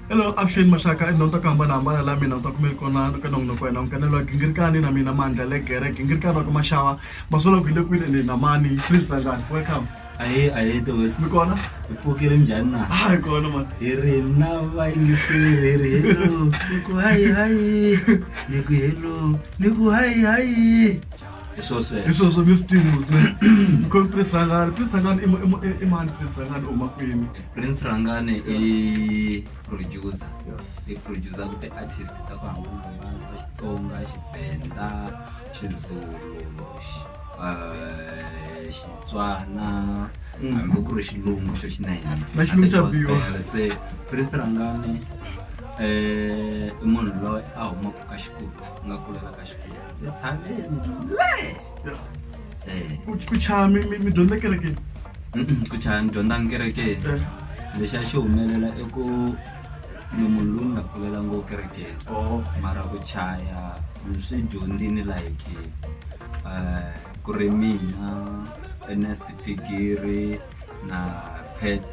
Hello, avuxeni maxaka i nonto ku hambanahambana la mina nta kumeli kona ka nongonoko wena nkanelo gingirikani na mina mandla le gere gingirikani wa ka maxava masolo ku hi le kwini ende na mani please sangani welcome ahe ahe tosi mi kona hi pfukile njhani na a hi kona mani hi ri na vayingiseri hi ri hello ni ku hayi hayi ni ku hello ni ku hayi hayi hi swo sweswo hi swo swo mi swi tivini swinene mi khome prince rangani prince rangani i mu- i mu- i- i mani prince rangani u huma kwini prince rangane i producer i producer ku ti-artist ta ku hambanahambana ta xitsonga xivenda xizulu xi- eh, xitswana Mm. hambi ku ri xilungu xo xinene Na xilungu xa Gospel. biwa. se prince rangane um i munhu loyi a humaka ka xikulu nga kulela ka xikulu hi tshameni ku chaya mi mi- mi dyondza kerekeni Mm-mm, ku chaya ni dyondza ni kerekeni Eh. lexi a xi humelela i ku ni munhu loyi ni nga kulela ngo kerekeni Oh. mara ku chaya ni swi dyondzini like eh, ku ri mina ernest figiri na pet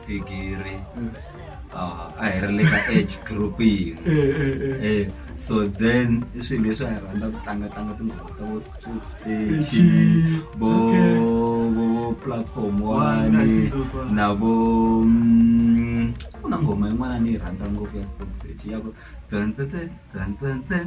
bigiri ah, a hi ri le ka age group yin'we eh, eh, eh. eh so then i swilo leswi a hi rhandza ku tlangatlanga tinghoma ta vo sports stage vo vo platform one na vo mm, ku na nghoma yin'wana ni yi rhandza ngopfu ya sports stage ya ku dzantsetse dzantsentsen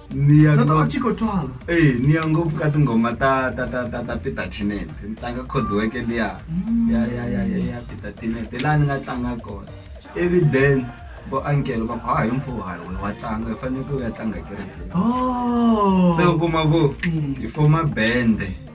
niya niya ngopfu ka tinghoma ta ta ta ta ta peter tenet ni tlanga khodiweke liya ya ya ya ya ya peter tenet laha ni nga tlanga kona ivi then vo ankelo va ku ha hi mfuwo hayi we wa tlanga hi faneleke u ya tlanga kerekeni se u kuma ku hi foma bende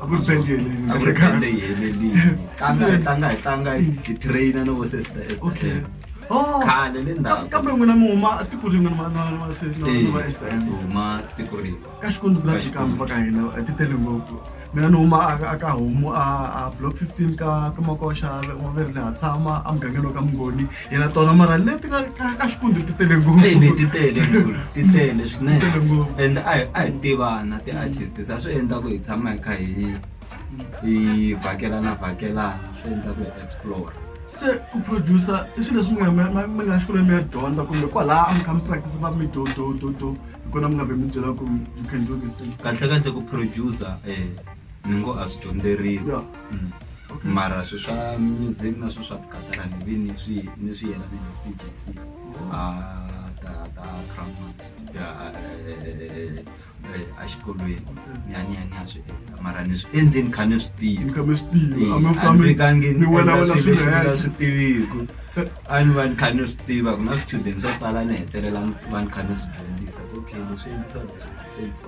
a ku ri band yeleni a ku ri band yeleni tlanga hi tlanga hi tlanga hi train na vo sesta esta okay oh. khale le ndhawu kambe n'wina mi huma tiko rin'we na na na sesta na va esta huma tiko rin'we ka xikwembu ku lati kambe va ka hina a ti tele ngopfu mina ni huma a ka homu a block 15 ka ka makoxa wa verile ha tshama a mugangeni wa ka mungoni yena tona mara leti ka ka xikundi ti tele ngopfu Hey, leti tele ngopfu, ti tele swinene Ti tele ngopfu. and a hi- a hi tivana ti-artist sa swi endla ku hi tshama hi kha hi hi vhakelana vhakelana swi endla ku hi explore se ku producer i swilo leswi mi nga- mi- mi- mi nga xikolweni mi ya dyondza kumbe kwalaha a mi kha mi practice va mi do do do do hi kona mi nga ve mi byela ku you can do this thing kahle kahle ku producer eh ni ngo a swi dyondzeriwi Yeah. Mm. Okay. mara swi swa music na swi swa tikatara ni vi ni swi ni swi yelani na cjc a ta ta cramast exikolweni ni a ni a ni a swi endla mara ni swi endle ni kha ni swi tiva Ni kha mi swi tiva, a mi fika mi- andikangi mi wela- wela swilo swilo henhla. swi tiviku a ni va ni kha ni swi tiva ku na swichudeni swo tala ni hetelela ni va ni kha ni swi dyondzisa okay leswi endlisa leswi swi endlisa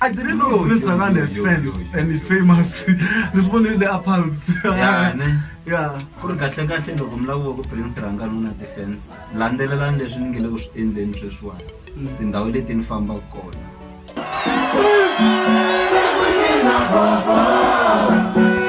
I didn't know Yo, Prince yo, Ragana has yo, fans yo, yo, and he's famous. This one in the palms. Yeah, ne. Yeah. ku ri kahle kahle loko mi laviwa ku prince rangani u na ti-fans landzelelani leswi ni nge le ku swi endleni sweswiwani tindhawu leti ni fambaka kona Thank you.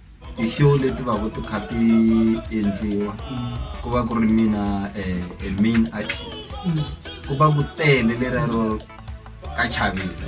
i show leti va ku ti kha ti endliwa ku va ku ri mina a main artist ku va ku tele lera ro ka chavisa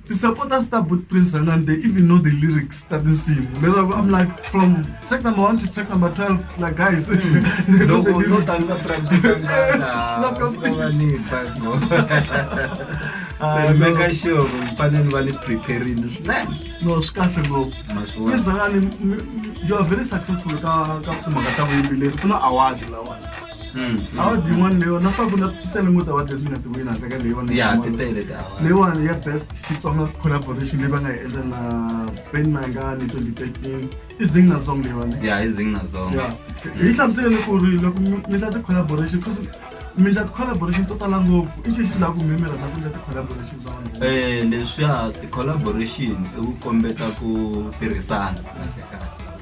The supporters start with Prince and then they even know the lyrics that they sing. I'm like from track number one to track number twelve, like guys. no, no, no, no, make sure mfanele va ni preparini swinene no swi kahle ngopfu izangani you are very successful ka ka timhaka ta vuyimbeleri ku na award lawani awa dyi n'wana leyiwa na swakudya swi tele ngo ta wa leswi nga tiwini handle ka leyiwa ya ti tele ta leyiwani ya best xitsonga collaboration leyi va nga yi endla na ben mangani twenty thirteen i zingna song leyiwani ya i zingna song ya hi yi hlamusele ni ku ri loko mi ta ti-collaboration cause mi ta ti-collaboration to tala ngopfu i xi xi lava ku mimira na ku ta ti-collaboration ta vanhu um leswiya ti-collaboration i ku kombeta ku tirhisana kahle kahle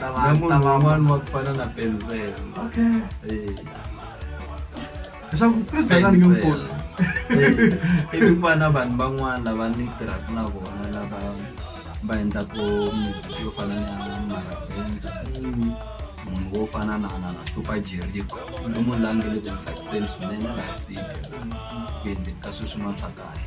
ta va ta va n'wana wa ku fana na penzel okay eh leswaku president a ni nge mukoti i ku va na vanhu van'wana lava ni tirhaka na vona lava va endlaka music yo fana na maraventa mm. munhu wo fana na na na super jerico i munhu la nge le ku tsakiseni swinene la speaker ku endleka sweswi mantswa kahle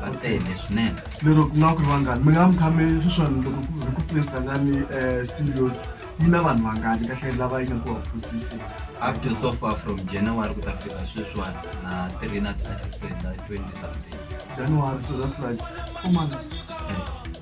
va tele swinene lero ku nga ku ri vangani mi nga mi khame sweswani loko hi ku tirhisangani um eh, studios yi na vanhu vangani kahle lava yi nga ku va producer up to so far from january ku ta fika sweswiwani na three na ti-artist ta twenty something january so that's like four months eh.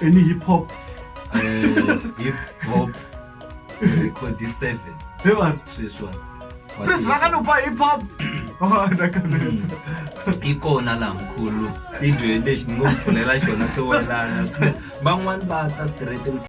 Any hip hop. Uh, hip hop record 7. Hey man. This one. Prince vakanopa hip hop. Oh, ndakaneta. ikona laha mkhulu studio lexi ni ngo mi pfulela xona tiwelana van'wani va ta straight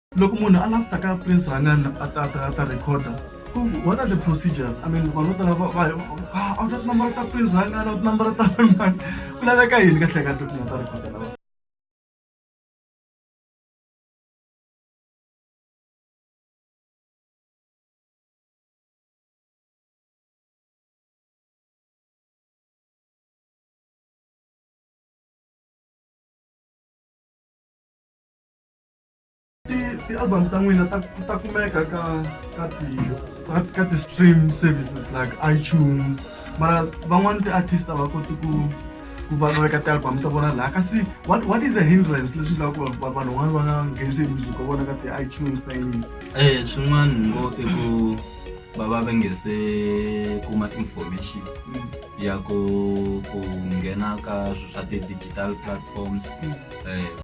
loko munhu a lava ku ta ka prince rhangani a ta ta ta recorder ku what are the procedures i mean vanhu vo tala va va ah, a wu ta tinambara ta prince rhangani a wu tinambara ta mani ku laveka yini ka hleka ti nga ta recorder lawa ti-album ta n'wina ta ta kumeka ka ka ti ka ti-stream services like itunes mara van'wani ti-artist a va koti ku ku va va veka ti-album ta vona laha kasi what, what is a hindrance leswi nga ku vanhu van'wani va nga nghenisi hi music wa vona ka ti-itunes ta yini eh swin'wana ngo i ku va va va nge se kuma information mm. ya ku ku nghena ka swa ti-digital platforms mm. eh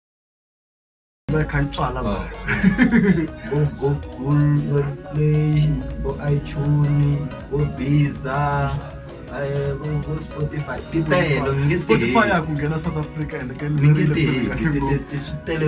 yi kha yi tswala la vo google play vo ichuni vo biza eh, vo vo spotify ti tele mi nge swi spotify ya ku nghena south africa and ke mi nge ti heti ti- ti- ti- swi tele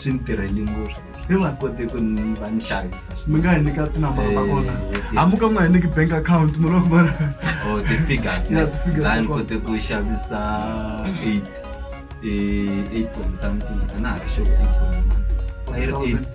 swi ni tirheli ngopfu ni nga koti ku ni va ni xavisa mi nga hi nyika tinambara ta kona Eh, ti- amuka nga hi nyiki bank account mi loko mara or the figures ne Yeah, the figures la ni ta kona. kote ku xavisa 8 eh 8 point something a na ha ri sure 8 point a yi ri 8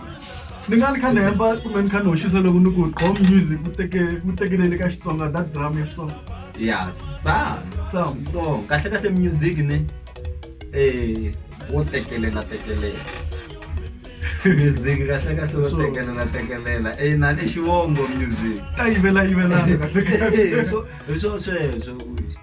ni nga ni kha ni hemba kumbe ni kha ni hoxisa loko ni ku gqom music ku teke ku tekelele ka xitsonga that drum ya xitsonga ya sa sa so kahle kahle music ne eh wo tekelela tekelela music kahle kahle wo tekelela tekelela eh na ni xivongo music ta yivela yivela kahle kahle hi swo sweswo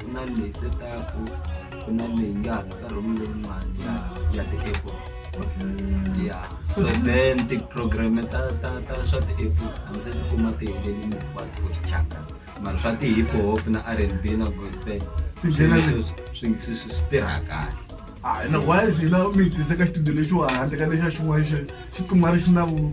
ku na leyi setaku ku na leyi nga ha ka room leyin'wani ya ya ti-apple ya so then ti-program ta ta ta swa ti-apple a ndzi ti kuma ti helelini hinkwato for xichaka mara swa ti-hip hop na r and b na gospel Ti nghena swi- swi- swi- swi swi- swi tirha kahle hayi na wise hina mi hi tise ka xitudio lexiwa handle ka lexa xin'wana xi xi kuma ri xi na vu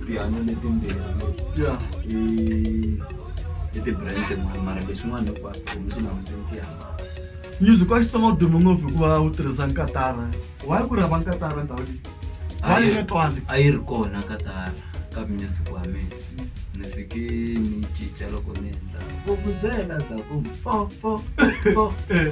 tihanyo letimbirhi ya i i ti-brand tin'wana mara leswin'wana hinkwaswo mi swi languteni tihanyo music wa xitsonga wu dume ngopfu hikuva wu tirhisa nkatara wayi ku rhava nkatara ndhawu leyi wayi nga twani a yi ri kona ka tara ka music wa mina ni fike ni cinca loko ni endla vukudzela dzaku fo fo fo Eh.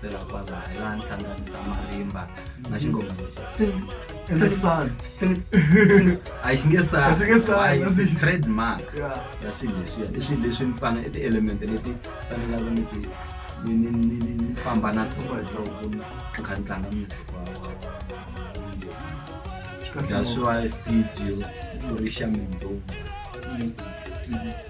sela kwazala laha ni hlanganisa marimba na xingoma lexi ende ku sala a xi nge sala A xi nge sali, Why? a It's xi- a trademark ya ya swilo leswiya i swilo leswi ni fana i ti-element leti fanelaka ni ti ni ni ni ni ni famba na tona hi loko ni ni kha ni tlanga music wa wa wa- wa swa studio ku ri xa mindzumba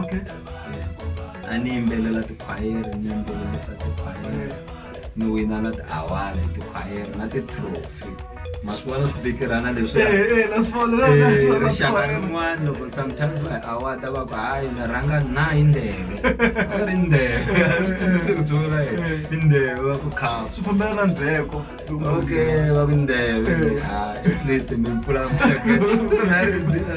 okay a ni yimbelela tikhwayere ni yimbelelisa tikhwayere ni wina na ti-award tikhwayere na ti-trophy ma swi vona swi bikirana leswi Eh, eh, na swi vona, na- na- Eh, na- na- rixaka na- rin'wana loko sometimes va award va ku hayi mi rhanga na hi ndeve a va ri ndeve swi twisisi ku tshula hi i ndeve va ku khapa swi fambela na ndzheko okay va ku ndeve Eh. Ah, at least mi pfula mihleketo. Na rizila.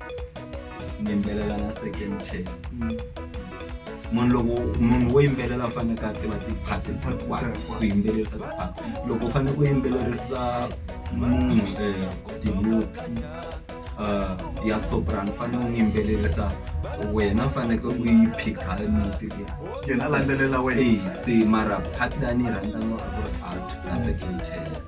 mi yimbelela na second ten mm. munhu loko munhu wo yimbelela u faneke a tiva tiphati hinkwato ku yimbelerisa tiphati loko u faneke ku yimbelerisa munhu um timuti um ya sopran u fanele u n'wi yimbelerisa so wena u faneke u yi phikha emuti liya se mara phati lani yi rhandzaniwa a ku ri out a second ten